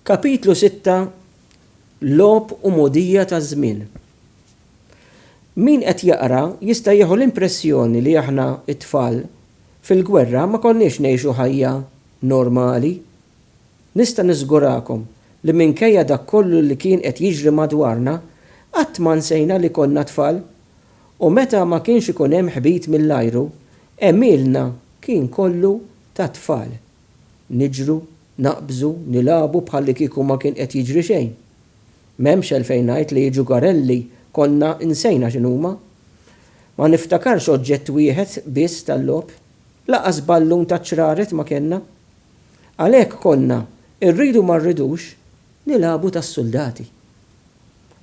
Kapitlu 6 Logħob u mogħdija taż-żmien Min qed jaqra jista' jieħu l-impressjoni li aħna t-tfal fil-gwerra ma konniex ngħixu ħajja normali. Nista' niżgurakom li minkejja dak kollu li kien qed jiġri madwarna, qatt ma nsejna li konna tfal. U meta ma kienx ikun hemm ħbit mill-ajru, għemilna kien kollu tat-tfal. Niġru, naqbżu, nilagħbu bħallikieku ma kien qed jiġri xejn. M'hemmx għalfejn ngħid li ġugarelli konna nsejna x'inhuma. Ma niftakarx oġġett wieħed biss tal-logħob. Lanqas ballun taċ-ċraret ma kellna. Għalhekk konna, irridu ma rridux, nilagħbu tas-suldati.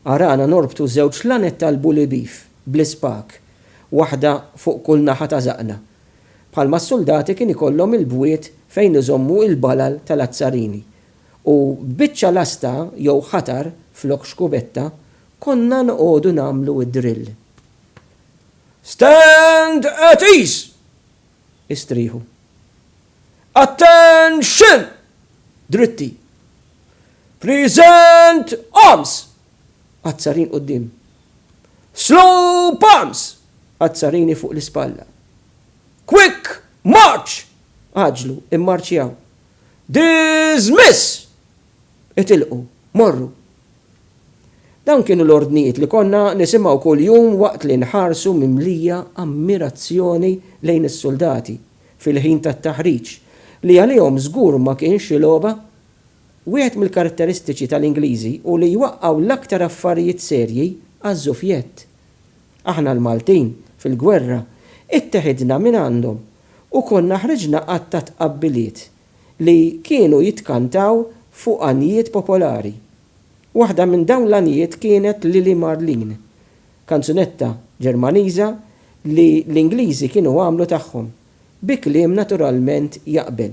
Arana norbtu żewġ lanet tal-bully beef bl-ispak, waħda fuq kull naħa ta' żaqqna, Bħalma s-suldati kien ikollhom il-bwiet fejn iżommu il-balal tal-azzarini u b'biċċa lasta jew ħatar flok xkubetta konna noqogħdu nagħmlu d-drill. Stand at ease! Istrieħu. Attention! Dritti. Present arms! Azzarin quddiem. Slow palms! Azzarini fuq l-ispalla. Quick march! Għaġġlu, immarċjaw. Dismiss! Itilqu, morru. Dawn kienu l-ordnijiet li konna nisimgħu kuljum waqt li nħarsu mimlija ammirazzjoni lejn is-suldati fil-ħin tat-taħriġ, li għalihom żgur ma kien xi logħba. Wieħed mill-karatteristiċi tal-Ingliżi hu li jwaqqgħu l-aktar affarijiet serji għaż-żufjett. Aħna l-Maltin, fil-gwerra, itteħidna mingħandhom u konna ħriġna għadd ta' tqabbiliet li kienu jitkantaw fuq għanjiet popolari. Waħda minn dawn l-għanjiet kienet Lili Marleen, kanzunetta Ġermaniża li l-Ingliżi kienu għamlu tagħhom, bi kliem naturalment jaqbel.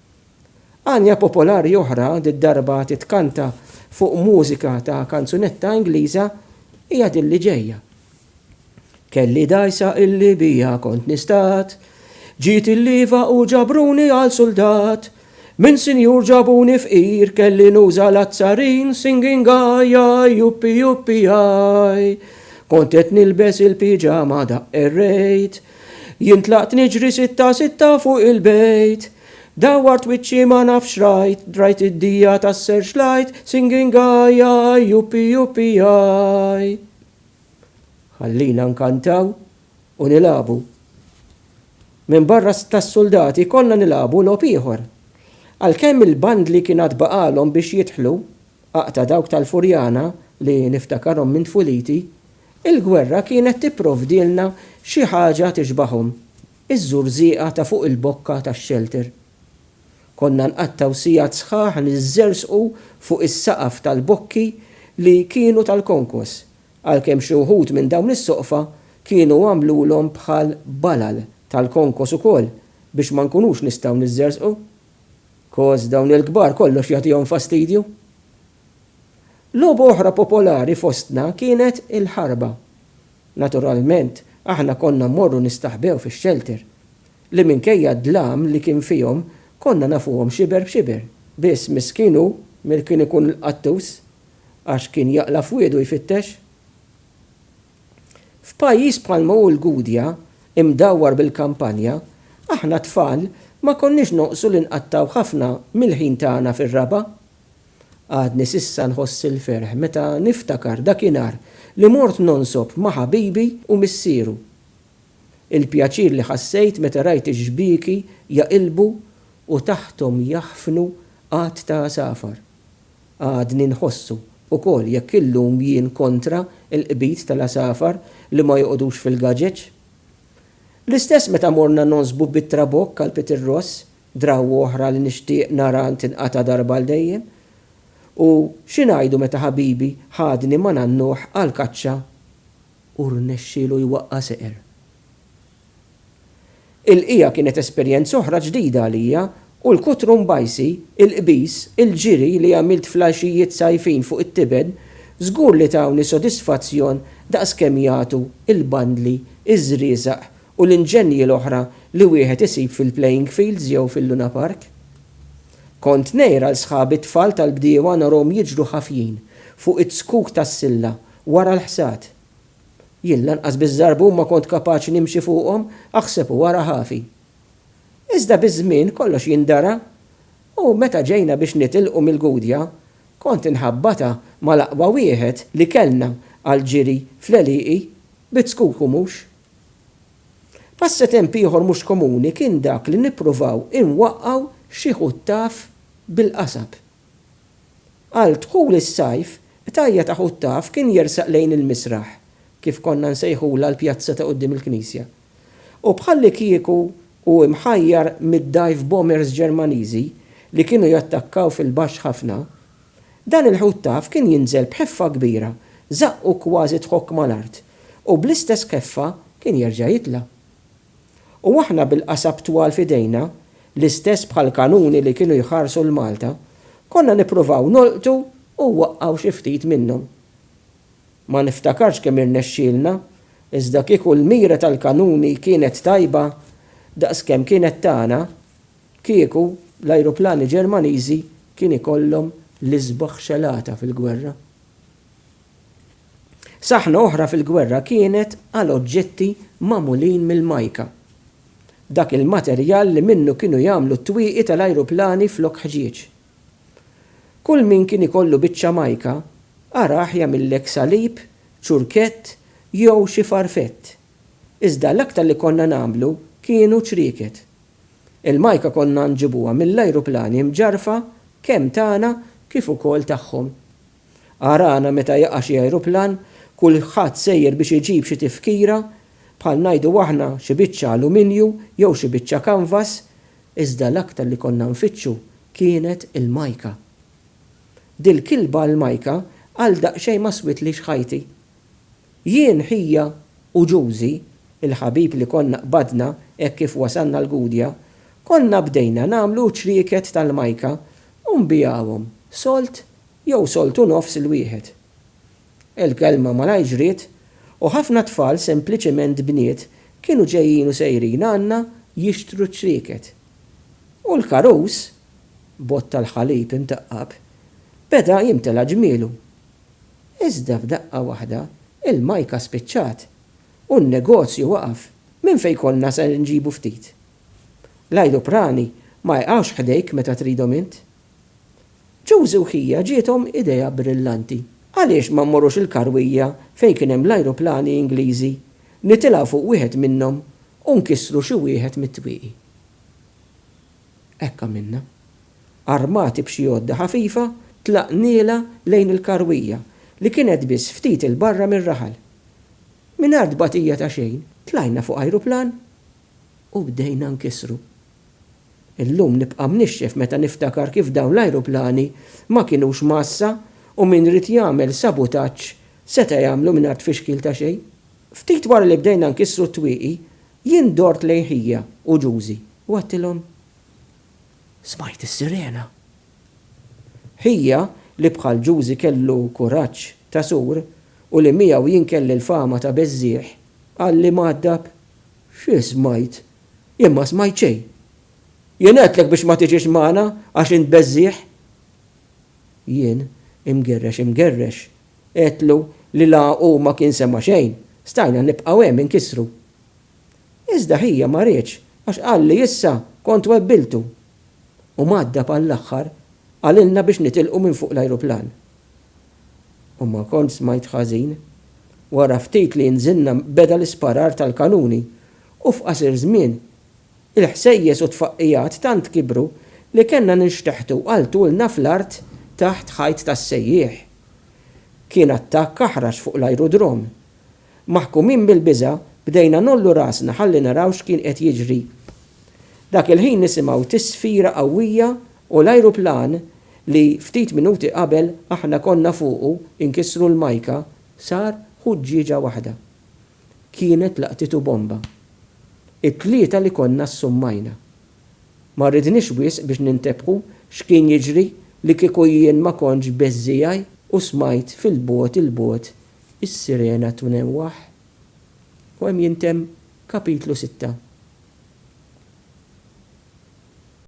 Għanja popolari oħra, did-darba titkanta fuq mużika ta' kanzunetta Ingliża, hija din li ġejja. Kelli dgħajsa illi biha kont nistat, ġiet il-lieva u ġabruni għal suldat. Minn sinjur ġabuni fqir kelli nuża l-azzarin singing aj aj juppi juppi aj. Kont qed nilbes il-piġama daqq errejt, Jien tlaqt niġri sitta sitta fuq il-bejt Dawwart wiċċi ma nafx rajt Rajt id-dija tas-searchlight Singing aj aj juppi juppi aj Ħallina nkantaw u nilagħbu Minbarra tas-suldati konna nilagħbu logħob ieħor Għalkemm il-bandli kien għad baqagħlhom biex jidħlu Aqta' dawk tal-Furjana li niftakarhom minn tfuliti, il-gwerra kienet tipprovdilna xi ħaġa tixbahom, iż-żurżieqa ta' fuq il-bokka tax-xelter. Konna nqattgħu sigħat sħaħ niżżerżqu fuq is-saqaf tal-bokki li kienu tal-konkos, għalkemm xi wħud minn dawn is-soqfa kienu għamlulhom bħal balal tal-konkos ukoll biex ma nkunux nistgħu niżżerżqu. Coz dawn il-kbar kollox jagħtihom fastidju. Logħba oħra popolari fostna kienet il-ħarba. Naturalment, aħna konna mmorru nistaħbew fix-xelter, li minkejja d-dlam li kien fihom konna nafuhom xiber b'xiber. Biss miskin hu mil kien ikun l-qattus għax kien jaqla' f'wiedu jfittex. F'pajjiż bħalma hu l-Gudja, imdawwar bil-kampanja, aħna tfal ma konniex noqsu li nqattgħu ħafna mill-ħin tagħna fir-raba'. Għadni s'issa nħoss il-ferħ meta niftakar dakinhar li mort nonsob ma' ħabibi u missieru. Il-pjaċir li ħassejt meta rajt ix-xbieki jaqilbu u taħthom jaħfnu għadd ta' għasafar. Għadni nħossu, ukoll, jekk illum jien kontra l-qbid tal-għasafar li ma joqogħdux fil-gaġeġ. L-istess meta morna nogħżbu bit-trabokk għal Peter Ross, drawwa oħra li nixtieq nara tinqata' darba għal dejjem. U xi ngħidu meta ħabibi ħadni ma' nannuh għall-kaċċa u rnexxielu jwaqqa' seqer. Il-bqija kienet esperjenza oħra ġdida għalija u l-kutru mbajsi, il-qbiż, il-ġiri li għamilt fl-għaxijiet sajfin fuq it-tiben żgur li tawni sodisfazzjon daqs kemm jagħtu l-bandli, iż-żrieżaq u l-inġenji l-oħra li wieħed isib fil-playing fields jew fil-Luna Park. Kont ngħir għal sħabi t-tfal tal-bdiewa narahom jiġru ħafjin fuq iz-zkuk tas-silla wara l-ħsad. Jien lanqas biż-żarbun ma kont kapaċi nimxi fuqhom, aħseb u ara ħafi. Iżda biż-żmien kollox jindara u meta ġejna biex nitilqu mill-Gudja, kont inħabbata mal-aqwa wieħed li kellna għall-ġiri fl-għelieqi bit-skuku mhux. Passatemp ieħor mhux komuni kien dak li nippruvaw inwaqqgħu xi ħuttaf bil-qasab. Għal dħul is-sajf, Qtajja ta' ħut taf kien jersaq lejn il-misraħ, kif konna nsejħulha l-pjazza ta' quddiem il-knisja, u bħallikieku hu mħajjar mid-dive bombers Ġermaniżi li kienu jattakkaw fil-baxx ħafna, dan il-ħut taf kien jinżel b'ħeffa kbira, żaqqu kważi tħokk mal-art, u bl-istess ħeffa kien jerġa' jitla'. U aħna bil-qasab twal f'idejna, l-istess bħall-kanuni li kienu jħarsu 'l Malta, konna nippruvaw nolqtu u waqqgħu xi ftit minnhom. Ma niftakarx kemm irnexxielna, iżda kieku l-mira tal-kanuni kienet tajba daqs kemm kienet tagħna, kieku l-ajruplani Ġermaniżi kien ikollhom l-isbaħ xelata fil-gwerra. Saħna oħra fil-gwerra kienet għal oġġetti magħmulin mill-majka, dak il-materjal li minnu kienu jagħmlu t-twieqi tal-ajruplani flok ħġieġ. Kull min kien ikollu biċċa majka arah jagħmillek salib, ċurkett jew xi farfett, iżda l-aktar li konna nagħmlu kienu ċrieket. Il-majka konna nġibuha mill-ajruplani mġarrfa kemm tagħna kif ukoll tagħhom. Arana meta jaqa' xi ajruplan, kulħadd sejjer biex iġib xi tifkira, bħal ngħidu aħna xi biċċa aluminju jew xi biċċa kanvas, iżda l-aktar li konna nfittxu kienet il-majka. Dil-kilba għall-majka għal daqsxejn ma switlix ħajti. Jien, ħija u Ġużi, il-ħabib li konna qbadna hekk kif wasalna l-Gudja, konna bdejna nagħmlu ċrieket tal-majka u nbigħuhom sold jew soltu nofs il-wieħed. Il-kelma malajr ġriet u ħafna tfal sempliċement bniet kienu ġejjin u sejrin għandna jixtru ċrieket. U l-karus, bott tal-ħalib imtaqqab, beda jimtela ġmielu. Iżda f'daqqa waħda il-majka spiċċat u n-negozju waqaf, minn fejn konna ser inġibu ftit? L-ajruprani ma jqgħux ħdejk meta tridhom int. Ġużi u Ħija ġiethom idea brillanti. Għaliex ma mmorrux il-karwija fejn kien hemm l-ajruplani Ingliżi, nitilgħu fuq wieħed minnhom u nkissru xi wieħed mit-twieqi? Hekk għamilna. Armati b'xi għodda ħafifa, tlaqnielha lejn il-karwija li kienet biss ftit 'il barra mir-raħal. Mingħajr tbatija ta' xejn, tlajna fuq ajruplan u bdejna nkissru. Illum nibqa' mnixxef meta niftakar kif dawn l-ajruplani ma kinux mgħassa u min ried jagħmel sabutaġġ seta' jagħmlu mingħajr tfixkil ta' xejn. Ftit wara li bdejna nkissru t-twieqi, jien dort lejn ħija u Ġużi u għedtilhom, Smajt is-sirena! Ħija, li bħal Ġużi kellu kuraġġ ta' sur u li miegħu jien kelli l-fama ta' beżżieħ, qalli mgħaddab, Xi smajt? Jien ma smajt xejn. Jien għedtlek biex ma tiġix magħna għax int beżżiegħ. Jien, imgerrex imgerrex, għedtlu li la hu ma kien sema' xejn, stajna nibqgħu hemm inkissru. Iżda ħija ma riedx għax qal li issa kont webbiltu. U mgħaddab għall-aħħar qalilna biex nitilqu minn fuq l-ajruplan. U ma kontx smajt ħażin. Wara ftit li nżilna beda l-isparar tal-kanuni U f'qasir żmien, il-ħsejjes u t-tfaqqigħat tant kibru li kellna ninxteħtu għal tulna fl-art taħt ħajt tas-sejjieħ. Kien attakk aħrax fuq l-ajrudrom. Maħkumin mill-biża', bdejna ngħollu rasna ħalli naraw x'kien qed jiġri. Dak il-ħin nisimgħu tisfira qawwija u l-ajruplan li ftit minuti qabel aħna konna fuqu inkissru l-majka sar ħuġġieġa waħda. kienet laqtitu bomba. It-tlieta li konna ssummajna. Ma rridniex wisq biex nintebħu x'kien jiġri li kieku jien ma kontx beżżiegħi u smajt fil-bogħod 'il bogħod is-sirena twnewwaħ. U hemm jintemm Kapitlu Sitta.